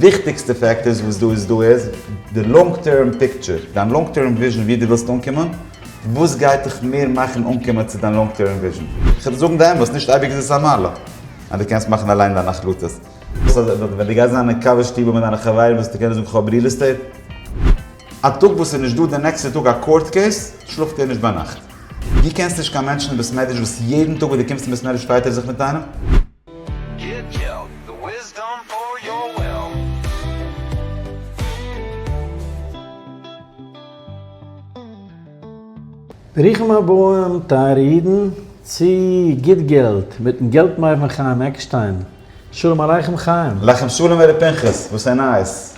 וויכטיגסטע פעקטארס וואס דא איז דא איז די לאנג טערם פיקטשער, דיין לאנג טערם וויזשען ווי דו ווילסט אנקומען, וואס גייט דיך מער מאכן אנקומען צו דיין לאנג טערם וויזשען. כ'וועל דיר זאגן די אמת, נישט אייביג איז עס א מעלה אז דו קענסט מאכן אליין דיינע החלטות. ווען דו גייסט זיין אין קאווע שטיבל מיט דיינע חברים וועסטו קענען זאגן כ'האב ריעל עסטעיט. א טאג וואס איז נישט דא די נעקסטע טאג א קאורט קעיס, שלאפט ער נישט ביינאכט. דו קענסט נישט קיין מענטשן אין בית מדרש וואס יעדן טאג וואס דו קומסט אין בית מדרש פייט ער זיך מיט איינעם. ברוכים הבאים טייערע אידן צו גוט געלט מיטן געלט-מבין חיים עקשטיין, שלום עליכם חיים. עליכם שלום הרב פנחס, וואס איז נייעס?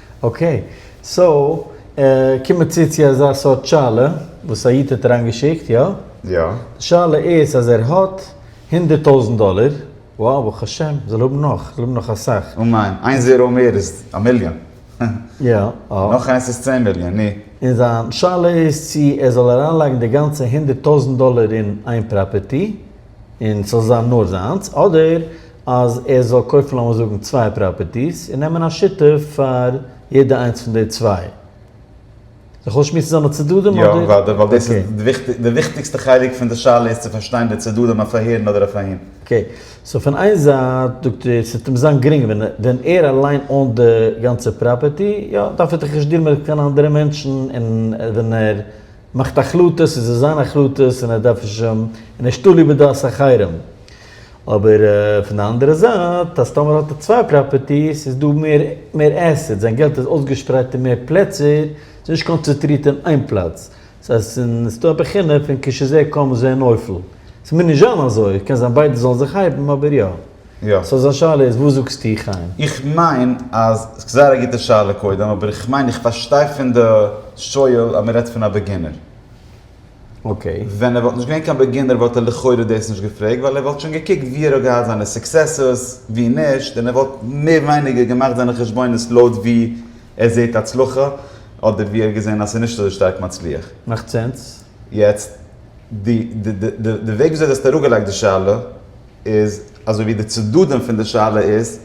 אקעי, סאו קומען מיר צו צו אזא סארט שאלה וואס א איד האט אריין געשיקט, יא? יא. די שאלה איז אז ער האט הונדערט טויזענט דאלער, וואו ברוך השם זאל ער האבן נאך, זאל האבן נאך אסאך. און מיין, איין זיראו מער איז א מיליאן. יא. נאך איינס איז צען מיליאן, נו. און זיין שאלה איז צו ער זאל אריינלייגן די גאנצע הונדערט טויזענט דאלער אין איין פראפערטי. און ס'זאל זיין נאר זיינס, אדער אז ער זאל קויפן לאמיר זאגן צוויי פראפערטיס און נעמען א שותף פאר יעדע איינס פון די צוויי. איך זאל שמועסן זיינע צדדים אדער? יא, אוודאי, ווייל דאס איז די וויכטיג, די וויכטיגסטע חלק פון די שאלה איז צו פארשטיין די צדדים אויף אהער און אדער אויף אהין. אקעי, סאו פון איין זייט זאגט ער ס'וועט אים זיין גרינג ווען ווען ער אליין אוינט די גאנצע פראפערטי, יא, דארף ער דאך נישט דיעלן מיט קיין אנדערע מענטשן און ווען ער. מאכט החלטות, עס איז זיין החלטות און ער דארף נישט זשומ און נישט תלוי בדעת אחרים. אבער פון די אנדערע זייט אז טאמער האט ער צוויי פראפערטיס איז דא מער מער עסעטס, זיין געלט איז אויסגעשפרייט אין מער פלעצער, עס איז נישט קאנצעטרירט אין איין פלאץ. עס הייסט אין עס איז דא א בחינה פון כשזה קם זה נופל. עס מוז נישט זיין אזוי, קען זיין ביידע זאלן זיך הייבן אבער יא. יא. סאו זיין שאלה איז וואס זאגסטו חיים? איך מיין אז סאיז זייער א גוטע שאלה קודם אבער איך מיין איך פארשטיי פון די שואל אז מען רעדט פון א בעגינער. אקעי. ווען ער וואלט נישט געווען קיין בעגינער וואלט ער לכאורה דאס נישט געפרעגט ווייל ער וואלט שוין געקוקט ווי ער האט געהאט זיינע סוקסעסעס ווי נישט און ער וואלט מער ווייניגער געמאכט זיינע חשבונות לויט ווי ער זעהט הצלחה אדער ווי ער האט געזעהן אז סאיז נישט אזוי שטארק מצליח. מאכט סענס. יעצט די די וועג וויאזוי די האסט אראפגעלייגט די שאלה איז אזוי ווי די צדדים פון די שאלה איז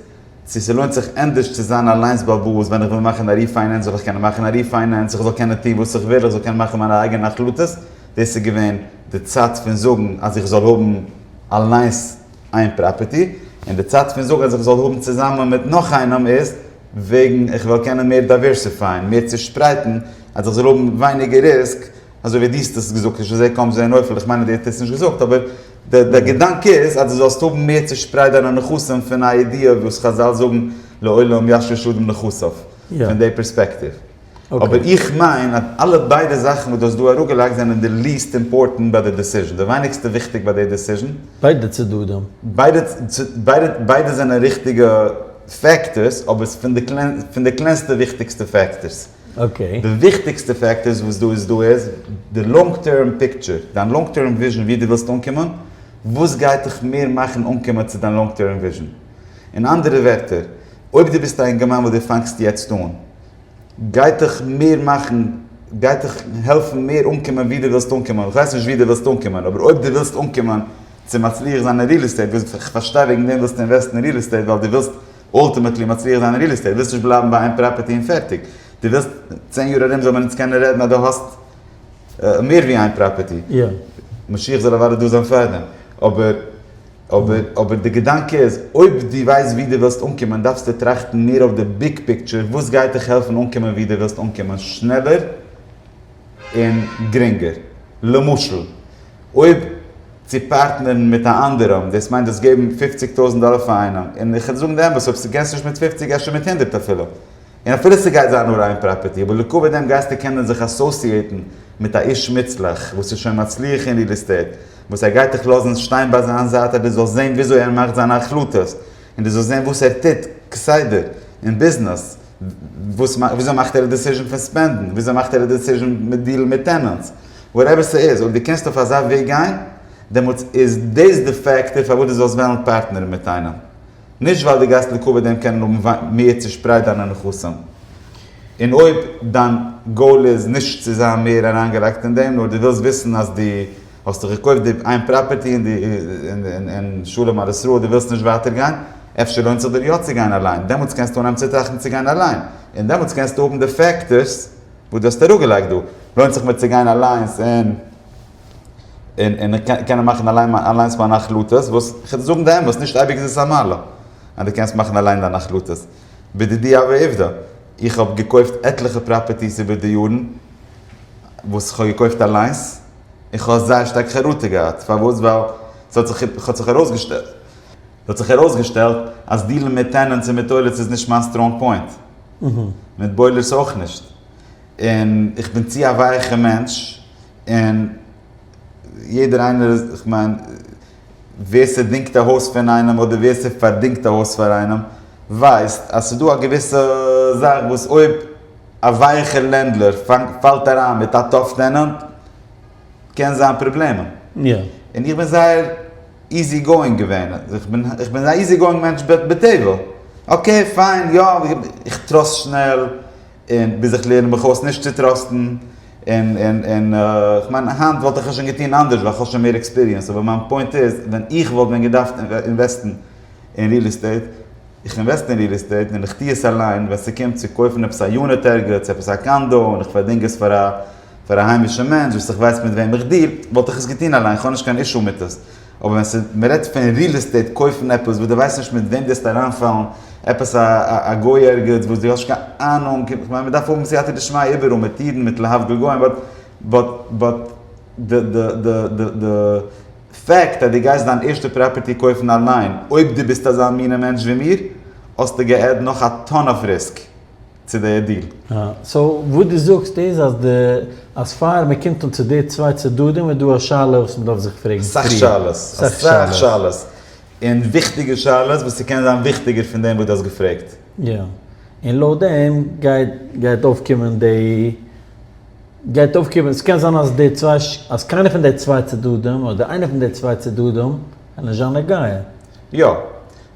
צו ס'לוינט זיך ענדערש צו זיין אליינס באוואוסט ווען איך וויל מאכן א ריפיינענס זאל איך קענען מאכן א ריפיינענס איך זאל קענען טון וואס איך וויל איך זאל קענען מאכן מיינע אייגענע החלטות דאס איז געווען די צד פון זאגן אז איך זאל האבן אליינס איין פראפערטי און די צד פון זאגן אז איך זאל האבן צוזאמען מיט נאך איינעם איז וועגן איך וויל קענען מער דייווערסיפייען, מער צושפרייטן, אז איך זאל האבן ווייניגער ריסק, אזוי ווי דו האסט עס געזאגט, נישט אזוי קאם זען אויף, איך מיין אז דו האסט עס נישט געזאגט, אבער די געדאנק איז אז דו זאלסט האבן מער צושפרייט דיינע נכסים פון א ידיעה וואס חזל זאגן לעולם ישרש אדם נכסיו, פון די פערספעקטיוו. אבער איך מיין אז אלע ביידע זאכן וואס דו האסט דא אראפגעלייגט זענען די ליעסט אימפארטענט ביי די דעסיזשן, די ווייניגסטע וויכטיג ביי די דעסיזשן. ביידע צדדים. ביידע זענען ריכטיגע פעקטארס, אבער ס'איז פון די קלענסטע וויכטיגסטע פעקטארס. די וויכטיגסטע פעקטארס וואס דא איז דא איז די לאנג טערם פיקטשער, דיין לאנג טערם וויזשן וואו דו ווילסט אנקומען, וואס גייט דיך מער מאכן אנקומען צו דיין לאנג טערם וויזשן. אין אנדערע ווערטער, אויב דו ביסט א אינגערמאן וואס דו פאנגסט יעצט אן, גייט דיך מער מאכן, גייט דיך העלפן מער אנקומען ווי דו ווילסט אנקומען, איך ווייס נישט ווי דו ווילסט אנקומען, אבער אויב דו ווילסט אנקומען צו מצליח זיין אין ריעל עסטעיט, איך פארשטיי וועגן דעם ווילסטו אינוועסטן אין ריעל עסטעיט ווייל דו ווילסט אולטימעטלי מצליח זיין אין ריעל עסטעיט, דו ווילסט נישט בלייבן ביי איין פראפערטי און פערטיג, דו ווילסט צען יאר ארום זאל מען אונז קענען רעדן אז דו האסט מער ווי איין פראפערטי, משיח זאל אוודאי דא זיין פארדעם, אבער. אבער די געדאנק איז, אויב דו ווייסט וואו דו ווילסט אנקומען דארפסטו טראכטן מער אויף די ביג פיקטשער, וואס גייט דיך העלפן אנקומען וואו דו ווילסט אנקומען שנעלער און גרינגער. למשל, אויב צו פארטנערן מיט א אנדערעם, דאס מיינט דאס געבן פופציג טויזנט דאלער פאר איינעם, און איך וועל זאגן די אמת, אויב ס'קענסט נישט מיט פופציג אפשר מיט הונדערט אפילו. און אפילו ס'גייט זיין נאר איין פראפערטי, אבער לעקאווע דעם גייסטו קענען זיך אסאסיעיטן מיט א איש מוצלח וואס איז שוין מצליח אין ריעל עסטעיט, וואס ער גייט דיך לאזן שטיין ביי זיין זייט אז דו זאלסט זען וויאזוי ער מאכט זיינע החלטות, און דו זאלסט זען וואס ער טוט כסדר אין ביזנעס, וויאזוי מאכט ער א דעסיזשען פון ספענדן, וויאזוי מאכט ער א דעסיזשען מיט דיעלן מיט טענענטס, וואטעווער ס'איז, אויב דו קענסט אויף אזא וועג גיין, דעמאלטס איז דאס די פעקטאר פארוואס דו זאלסט וועלן פארטנערן מיט איינעם נישט ווייל דו גייסט לקבע דעם קענען האבן מער צושפרייט דיינע נכסים, און אויב דיין גאול איז נישט צו זיין מער אריינגעלייגט אין דעם נאר דו ווילסט וויסן אז דו האסט דאך געקויפט די איין פראפערטי און שלום על ישראל דו ווילסט נישט ווייטער גיין, אפשר לוינט זיך דיר יא צו גיין אליין, דעמאלטס קענסטו אנהייבן צו טראכטן צו גיין אליין, און דעמאלטס קענסטו האבן די פעקטארס וואס דו האסט אראפגעלייגט דא, לוינט זיך מיר צו גיין אליינס און. און און קענען מאכן אליין אליינס מיינע החלטות וואס כ'וועל דיר זאגן די אמת נישט אייביג איז עס א מעלה אז דו קענסט מאכן אליין דיינע החלטות. בדידי הוה עובדא, איך האב געקויפט עטליכע פראפערטיס איבער די יארן וואס כ'האב געקויפט אליינס און כ'האב זייער שטארק חרטה געהאט פארוואס ווייל ס'האט זיך האט זיך ארויסגעשטעלט ס'האט זיך ארויסגעשטעלט אז דיעלן מיט טענענטס און מיט אוילערס איז נישט מיין סטראנג פוינט מיט בוילערס אויך נישט און איך בין צו א ווייעכע מענטש. און יעדער איינער איז, איך מיין, ווער ס'דינגט א הויז פון איינעם אדער ווער ס'פארדינגט א הויז פאר איינעם, ווייסט אז ס'איז דא א געוויסע זאך וואס אויב א ווייכע לענדלארד פאלט אריין מיט א טאף טענענט קען זיין פראבלעמען. און איך בין זייער איזי גאואינג געווען, איך בין איך בין א איזי גאואינג מענטש בטבע, אקעי פיין, יא, איך טראסט שנעל, און ביז איך לערן מיך אויס נישט צו טראסטן, און, און, און, כ'מיין היינט וואלט איך עס שוין געטון אנדערש ווייל כ'האב שוין מער עקספיריענס, אבער מיין פוינט איז, ווען איך וואלט ווען געדארפט אינוועסטן אין ריעל עסטעיט, איך אינוועסט אין ריעל עסטעיט און איך טוה עס אליין, ווען ס'קומט צו קויפן עפעס א יוניט ערגעץ, עפעס א קאנדא, און איך פארדינג עס פאר א, פאר א היימישע מענטש וואס איך ווייס מיט וועם איך דיל, וואלט איך עס געטון אליין, כ'האב נישט קיין אישו מיט עס. אבער ווען ס'איז מ'רעדט פון ריעל עסטעיט קויפן עפעס וואס דו ווייסט נישט מיט וועם גייסטו אריינפאלן, עפעס א א גוי ערגעץ וואס דו האסט נישט קיין אהנונג, איך מיין מ'דארף האבן סייעתא דשמיא איבעראל מיט אידן מיט להבדיל גוים באט באט באט די די די די די פעקט אז דו גייסט דיין ערשטע פראפערטי קויפן אליין, אויב דו ביסט אזא מינע מענטש ווי מיר, האסטו גע'עדד נאך א טאן אוו ריסק. צו די דיל. אה, סאו וואס דו זאגסט איז אז די, אז פאר מען קומט אן צו די צוויי צדדים איז דא א שאלה וואס מען דארף זיך פרעגן פריער. אסאך שאלות, אסאך שאלות, און וויכטיגע שאלות וואס ס'קען זיין וויכטיגער פון דעם וואס דו האסט געפרעגט. יא, און לויט דעם גייט, גייט אויפקומען די, גייט אויפקומען, ס'קען זיין אז די צוויי, אז קיינער פון די צוויי צדדים, אדער איינער פון די צוויי צדדים, איז נישט זיין נגיעה. יא,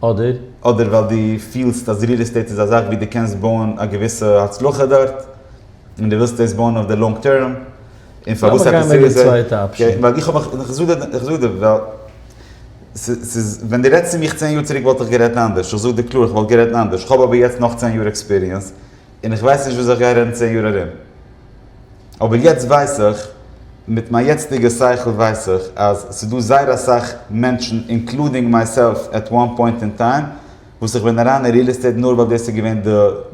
אדער? אדער ווייל דו פילסט אז ריעל עסטעיט איז א זאך ווי דו קענסט בויען א געוויסע הצלחה דארט, און דו ווילסט דאס בויען אויף די לאנג טערם, און פארוואס עפעס ריעל עסטעיט? לאמיר גיין מיט די צווייטע אפשען. איך זאג דיר, איך זאג דיר, ווייל ס'איז, ווען דו רעדסט צו מיך צען יאר צוריק וואלט איך גערעדט אנדערש, איך זאג דיר קלאר איך וואלט גערעדט אנדערש, איך האב אבער יעצט נאך צען יאר עקספיריענס, און איך ווייס נישט וואס איך גיי רעדן צען יאר ארום. אבער יעצט ווייס איך, מיט מיין יעצטיגע שכל ווייס איך, אז ס'דא זייער אסאך מענטשן, אינקלודינג מייסעלף עט וואן פוינט אין טיים, וואס איך בין אריין אין ריעל עסטעיט נאר ווייל דאס איז געווען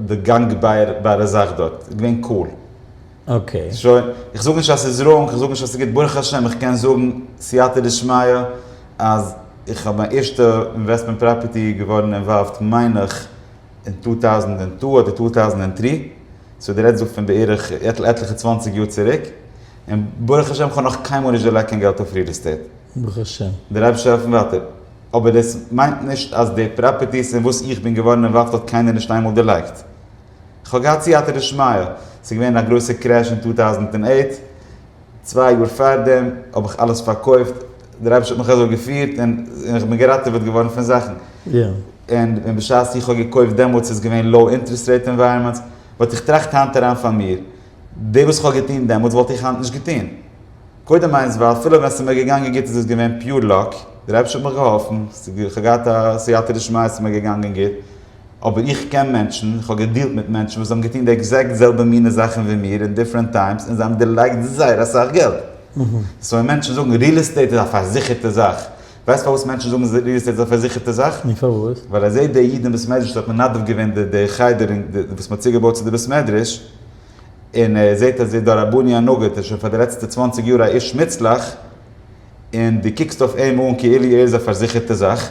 די גאנגבארע זאך דארט. איז געווען קול. אקעי. שוין. איך זאג נישט אז ס'איז ראנג, איך זאג נישט אז ס'איז גוט. ברוך השם איך קען זאגן סייעתא דשמיא אז איך האב מיין ערשטע אינוועסטמענט פראפערטי געווארן אינוואלווד מיין איך, אין טו טאוזענד און טו אדער טו טאוזענד און טרי, סאו די רעדסט דא פון בערך עטליכע צוואנציג יאר צוריק, און ברוך השם כ'האב נאך קיינמאל נישט דערלייגט קיין געלט אויף ריעל עסטעיט. ברוך השם. דער אייבערשטער העלפט מיר ווייטער. אבער דאס מיינט נישט אז די פראפערטיס אין וואס איך בין געווארן אינוואלווד האט קיינער נישט איינמאל דערלייגט. כ'האב געהאט סייעתא דשמיא, ס'איז געווען א גרויסע קרעש אין טו טאוזענד און אייט, צוויי יאר פארדעם האב איך אלעס פארקויפט, דער אייבערשטער האט מיך אזוי געפירט און איך בין געראטעוועט געווארן פון זאכן, און בשעת איך האב געקויפט דעמאלטס איז געווען לאו אינטערעסט רעיט ענווייראמענטס, באט איך טראכט היינט אריין פאר מיר, דאס וואס איך האב געטון דעמאלטס וואלט איך היינט נישט געטון, קודם איינס ווייל אפילו ווען עס איז מיר געגאנגען גוט איז עס געווען פיור לאק, דער אייבערשטער האט מיך געהאלפן, איך האב געהאט א סייעתא דשמיא אז עס איז מיר געגאנגען גוט, אבער איך קען מענטשן, איך האב געדילט מיט מענטשן וואס האבן געטון די עקזעקט זעלבע מינע זאכן ווי מיר אין דיפרענט טיימס און זיי האבן דערלייגט זייער אסאך געלט. סאו ווען מענטשן זאגן ריעל עסטעיט איז א פארזיכערטע זאך, ווייסט פארוואס מענטשן זאגן ריעל עסטעיט איז א פארזיכערטע זאך? נו פארוואס? ווייל ער זעט די אידן בית מדרש וואס האט מנדב געווען די די חדר און די וואס מ'האט צוגעבויט צו די בית מדרש, און ער זעט אז דער רבני הנגיד איז שוין פאר די לעצטע צוואַנציק יאר א איש מוצלח, און דו קוקסט אויף אים אן כאילו ער איז א פארזיכערטע זאך.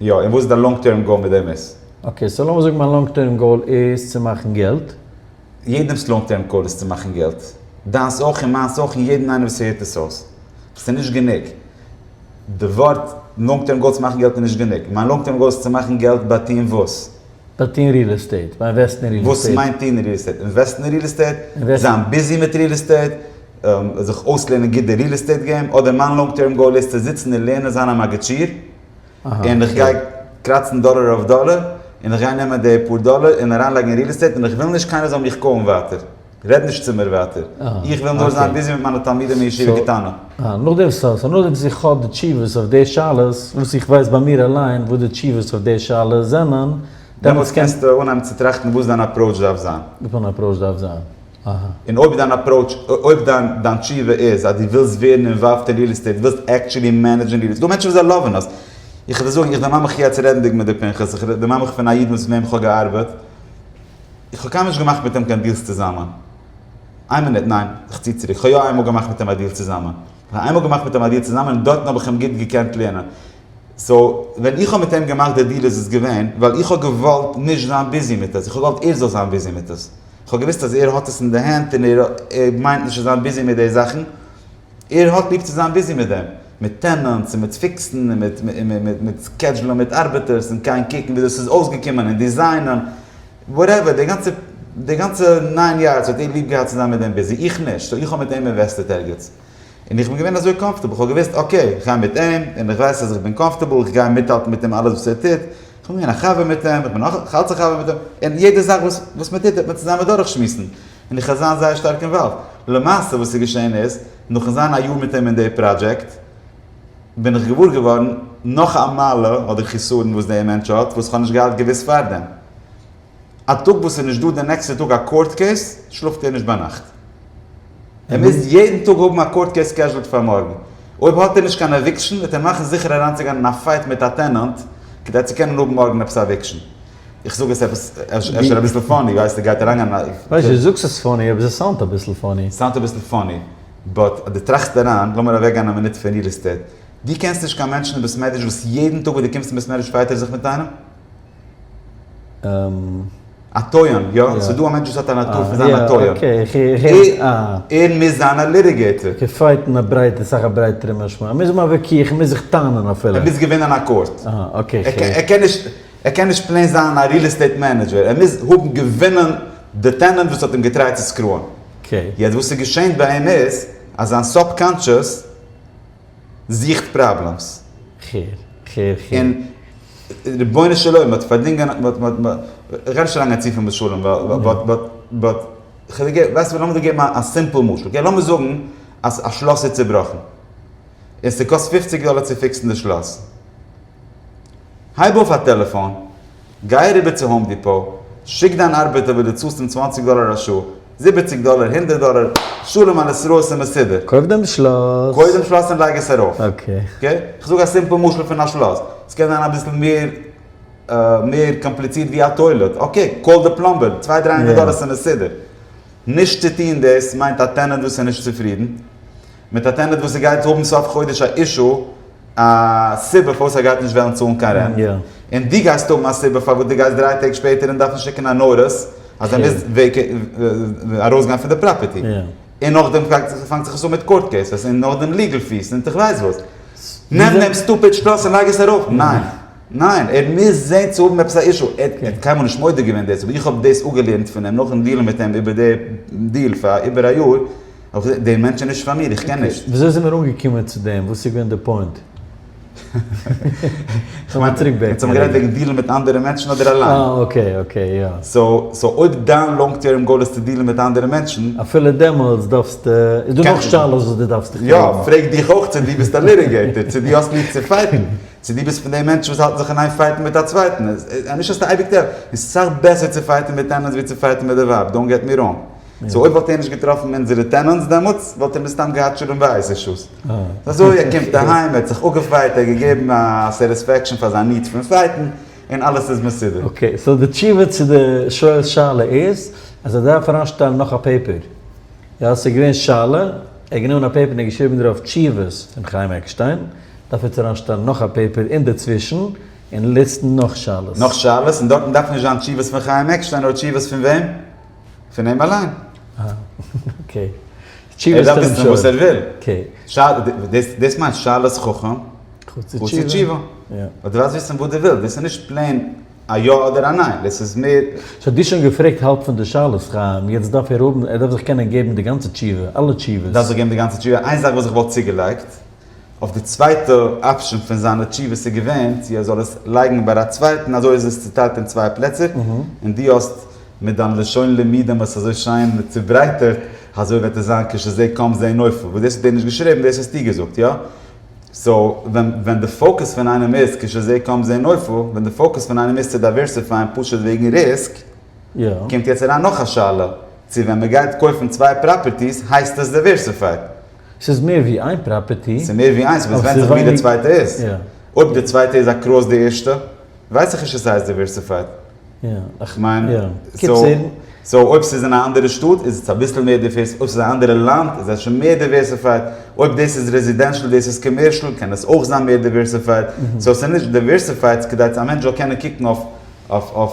יא, און וואס איז דיין לאנג טערם גאול מיט דעם עס? אקעי, סאו לאמיר זאגן מיין לאנג טערם גאול איז צו מאכן געלט. יעדעם'ס לאנג טערם גאול איז צו מאכן געלט. דיינס אויך און מיינס אויך און יעדן איינעם וואס הערט עס אויס. עס איז נישט גענוג. די ווארט לאנג טערם גאול צו מאכן געלט איז נישט גענוג. מיין לאנג טערם גאול איז צו מאכן געלט ביי טוהן וואס? ביי טוהן ריעל עסטעיט, ביי אינוועסטן אין ריעל עסטעיט. וואס מיינט טוהן אין ריעל עסטעיט? אינוועסטן אין ריעל עסטעיט? זיין ביזי מיט ריעל עסטעיט? זיך אויסלערנען גוט די ריעל עסטעיט געים? אדער מיין לאנג טערם גאול איז צו זיצן און לערנען זיין א מאגעטשיר? און איך גיי קראצן דאלער אויף דאלער, און איך גיי נעמען די פאר דאלער און אריינלייגן אין ריעל עסטעיט, און איך וויל נישט קיינער זאל מיך קאלן ווייטער, רעד נישט צו מיר ווייטער, איך וויל נאר זיין ביזי מיט מיינע תלמידים אין ישיבה קטנה. אה, נאכדעם סא, סא נאכדעם וואס איך האב די תשובות אויף די שאלות, וואס איך ווייס ביי מיר אליין וואס די תשובות אויף די שאלות זענען, דעמאלטס קענסטו אנהייבן צו טראכטן וואס דיין אפראוטש דארף זיין. וואס מיין אפראוטש דארף זיין? און אויב דיין אפראוטש, אויב דיין דיין תשובה איז אז דו ווילסט ווערן אינוואלווד אין ריעל עסטעיט, ווילסט עקטשולי מענעדזשן ריעל עסטעיט, ס'דא מענטשן וואס זיי לאווען עס, איך וועל זאגן, איך דערמאן מיך יעצט רעדנדיג מיט די פנחס, איך דערמאן מיך פון א איד וואס מיט וועם איך האב געארבעט, איך האב קיינמאל נישט געמאכט מיט אים קיין דיעלס צוזאמען, איין מינוט, ניין, איך צי צוריק, כ'האב יא איינמאל געמאכט מיט אים א דיעל צוזאמען, איך האב איינמאל געמאכט מיט אים א דיעל צוזאמען און דארטן האב איך אים גוט געקענט לערנען, סאו, ווען איך האב מיט אים געמאכט די דיעל איז עס געווען ווייל איך האב געוואלט נישט זיין ביזי מיט עס, איך האב געוואלט ער זאל זיין ביזי מיט עס. כ'האב געוויסט אז ער האט עס אין די הענט און ער מיינט נישט צו זיין ביזי מיט די זאכן. ער האט ליב צו זיין ביזי מיט דעם. מיט טענענטס און מיט פיקסן און מיט און מיט סקעדזשולען מיט ארבעטערס און גיין קוקן ווי דאס איז אויסגעקומען און דיזיינען. וואטעווער. די גאנצע די גאנצע ניין יארדס האט ער ליב געהאט צו זיין מיט דעם ביזי. איך נישט. סאו איך האב מיט אים אינוועסטעט ערגעץ. און איך בין געווען אזוי קאמפארטעבל, כ'האב געוואוסט אקעי, איך גיי מיט אים, און איך ווייס אז איך בין קאמפארטעבל, איך גיי מיטהאלטן מיט אים אלעס וואס ער טוט, איך בין געווען א חבר מיט אים, איך בין נאך אלץ א חבר מיט אים, און יעדע זאך וואס וואס מען טוט וועט מען צוזאמען דורכשמועסן, און איך וועל זיין זייער שטארק אינוואלווד. למעשה וואס איז געשען איז, נאכן זיין א יאר מיט אים אין די פראדזשעקט, בין איך געוואר געווארן נאך א מעלה אדער חסרון וואס דער מענטש האט, וואס כ'האב נישט געהאט געוואוסט פארדעם. א טאג וואס איז נישט דא די נעקסטע טאג א קאורט קעיס, שלאפט ער נישט ביינאכט. ער מוז יעדן טאג האבן א קאורט קעיס סקעזשולד פאר מארגן. אויב האט ער נישט קיין עוויקשן וועט ער מאכן זיכער אריינצוגיין אין א פייט מיט א טענענט כדי צו קענען האבן מארגן עפעס א עוויקשן. איך זאג עס עפעס אפשר אביסל פאני, ווייסט איר גייט אריינגיין אין א. ווייסט דו זאגסט עס פאני אבער עס סאונדט אביסל פאני. סאונדט אביסל פאני באט אז דו טראכסט אריין, לאמיר אוועקגיין א מינוט פון ריעל עסטעיט. דו קענסט נישט קיין מענטשן אין בית מדרש וואס יעדן טאג וואס דו קומסט אין בית מדרש פייט ער זיך מיט איינעם? א. א טויאן, יא? ס'איז דא א מענטש וואס האט א נאטור פון זיין א טויאן. אקעי, איך רעד, אה. ער מוז זיין א ליטיגעיטער. געפייט אין א ברייטע, סאך א ברייטערע משמעות. ער מוז האבן א וויכוח, ער מוז זיך טענה'ן אפילו. ער מוז געווינען א קאורט. אה, אקעי, איך רעד. ער קען נישט, ער קען נישט פלעין זיין א ריעל עסטעיט מענעדזשער. ער מוז האבן געווינען די טענענט וואס האט אים געטרייט צו סקרוען. אקעי. יעצט וואס ס'געשענט ביי אים איז, אז זיין סאבקאנטשעס. זוכט פראבלעמס. כ'הער, כ'הער, כ'הער. און רבונו של עולם, מ'האט פארדינגען, מ'האט, מ'האט, מ'האט, כ'גיי נישט אריינגיין צופיל משלים, ווייל, באט, באט, באט, כ'וועל געבן, ווייסט וואס, לאמיר דיר געבן א סימפל משל, אקעי, לאמיר זאגן אז א שלאס איז צובראכן, און ס'קאסט פופציג דאלער צו פיקסן די שלאס. הייב אויף א טעלעפאן, גיי אריבער צו האום דיפאו, שיק דיין ארבעטער וואס דו צאלסט אים צוואנציג דאלער א שעה, זיבעציג דאלער, הונדערט דאלער, שלום על ישראל ס'איז מסודר. קויף דעם שלאס. קויף דעם שלאס און לייג עס ארויף. אקעי. אקעי? כ'זאג א סימפל משל פון א שלאס. ס'קען זיין אביסל מער מער קאמפליצירט ווי א טוילעט. אקעי, קאל די פלאמבער, צוויי דריי הונדערט דאלער ס'איז מסודר. נישט צו טון דאס מיינט א טענענט וואס איז נישט צופרידן. מיט א טענעט וואס ער גייט האבן סוף חודש א אישו, א סיבה פארוואס ער גייט נישט וועלן צאלן קיין רענט, און דו גייסט האבן א סיבה פארוואס דו גייסט דריי טעג שפעטער און דארפן שיקן א נאריס אז ער מוז ארויסגיין פון די פראפערטי, און נאכדעם פאנגט זיך עס אן מיט קאורט קעיסעס, און נאכדעם ליגעל פיס און כ'ווייס וואס. נעם דעם סטופיד שטראס און לייג עס ארויף. ניין. ניין. ער מוז זען צו האבן עפעס א אישו. ער האט קיינמאל נישט מודה געווען דאס, אבער איך האב דאס אפגעלערנט פון אים נאכן דיעלן מיט אים איבער די דיעל פאר איבער א יאר, אויך די מענטש איז נישט פאר מיר, איך קען נישט. וויאזוי זעמער אנגעקומען צו דעם? וואס איז געווען די פוינט? כ'מיין, אונז האבן גערעדט וועגן דילן מיט אנדערע מענטשן אדער אליין? אה, אקעי, אקעי, יא. סאו, אויב דיין לאנג טערם גאול איז צו דילן מיט אנדערע מענטשן. אפילו דעמאלטס דארפסטו, איז דא נאך שאלות וואס דו דארפסט דיך פרעגן. יא, פרעג דיך אויך צו דו ביסט א ליטיגעיטער, צו דו האסט ליב צו פייטן, צו דו ביסט פון די מענטשן וואס האלטן זיך אין איין פייטן מיט א צווייטן. נישט אז ס'איז אייביג טבעי, ס'איז סאך בעסער צו פייטן מיט טענענטס ווי צו פייטן מיט די ווייב, דאונט געט מי ראנג. סאו אויב וואלט ער נישט געטראפן אונזערע טענענטס דעמאלטס וואלט ער מסתם געהאט שלום בית אישוס. סאו אזוי ער קומט אהיים, ער האט זיך אפגעפייט, ער האט געגעבן א סעטיספעקשאן פאר זיין ניעדס פון פייטן, און אלעס איז מסודר. אקעי, סאו די תשובה צו די שואל'ס שאלה איז אז ער דארף אריינשטעלן נאך א פעיפער. יא, ס'איז געווען שאלה, ער האט גענומען א פעיפער און ער האט געשריבן דערויף תשובות פון חיים עקשטיין, דארף עטס אריינשטעלן נאך א פעיפער אינדערצווישן און ליסטן נאך שאלות. נאך שאלות, און דארטן דארף נישט זיין תשובות פון חיים עקשטיין, נאר תשובות פון וועם? פון אים אליין. אה, אקעי. ער דארף וויסן וואס ער וויל. דאס מיינט שאלת חכם חצי תשובה. ווייל דו דארפסט וויסן וואס דו ווילסט, דאס איז נישט פלעין א יא אדער א ניין, דאס איז מער. סאו דו האסט שוין געפרעגט האלב פון די שאלות, חיים, יעצט דארף ער האבן, ער דארף זיך קענען געבן די גאנצע תשובה, אלע תשובות. דארף זיך געבן די גאנצע תשובה, איין זאך וואס איך וואלט צוגעלייגט. אויף די צווייטע אפשען פון זיינע תשובות איז געווען צו ער זאל עס לייגן ביי א צווייטן אזוי איז עס צוטיילט אין צוויי פלעצער און דו האסט מיט דיין לשון לימודים עס אזוי שיין צוברייטערט אזוי וועט עס זיין כשזה קם זה נופל וואס דאס האט ער נישט געשריבן דאס האסטו געזאגט יא? סאו ווען ווען די פאוקעס פון איינעם איז כשזה קם זה נופל ווען די פאוקעס פון איינעם איז צו דייווערסיפייען פשוט וועגן ריסק קומט יעצט אריין נאך א שאלה צו ווען מען גייט קויפן צוויי פראפערטיס הייסט עס דייווערסיפייד? ס'איז מער ווי איין פראפערטי. ס'איז מער ווי איינס, אבער ס'ווענדט זיך ווי די צווייטע איז. אויב די צווייטע איז אקראס די ערשטע, ווייס איך נישט צו סאיז דיווערסיפייד. כ'מיין, סאו אויב ס'איז אין א אנדערע שטאט איז עס אביסל מער דיווערסיפייד, אויב ס'איז א אנדערע לאנד איז עס שוין מער דיווערסיפייד, אויב דאס איז רעזידענשאל דאס איז קאמערשאל קען עס אויך זיין מער דיווערסיפייד, סאו ס'איז נישט דיווערסיפייד ס'איז כדי אז א מענטש זאל קענען קוקן אויף.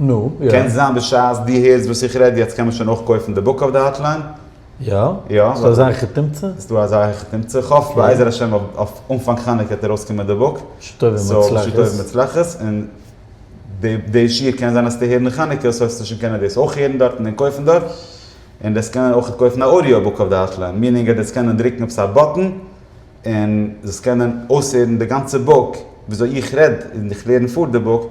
נו, יא. קען זיין בשעת דו הערסט וואס איך רעד יעצט קען מען שוין אויך קויפן די בוק אויף די האטליין. יא? יא. ס'איז דא אזא איך תמצא? ס'איז דא אזא איך תמצא. איך האף בעזר השם אויף אנפאנג חנוכה וועט ארויסקומען די בוק. שטוב און מוצלחת. סאו שטוב און מוצלחת. און די די שיעור קען זיין אז ס'טע הערן אין חנוכה סאו וועסטו שוין קענען דאס אויך הערן דארטן און קויפן דארט. און דאס קענען אויך קויפן א אודיאו בוק אויף די האטליין. מינינג אז דאס קענען דרוקן עפעס א באטן און דאס קענען אויסהערן די גאנצע בוק וויאזוי איך רעד און איך לערן פאר די בוק.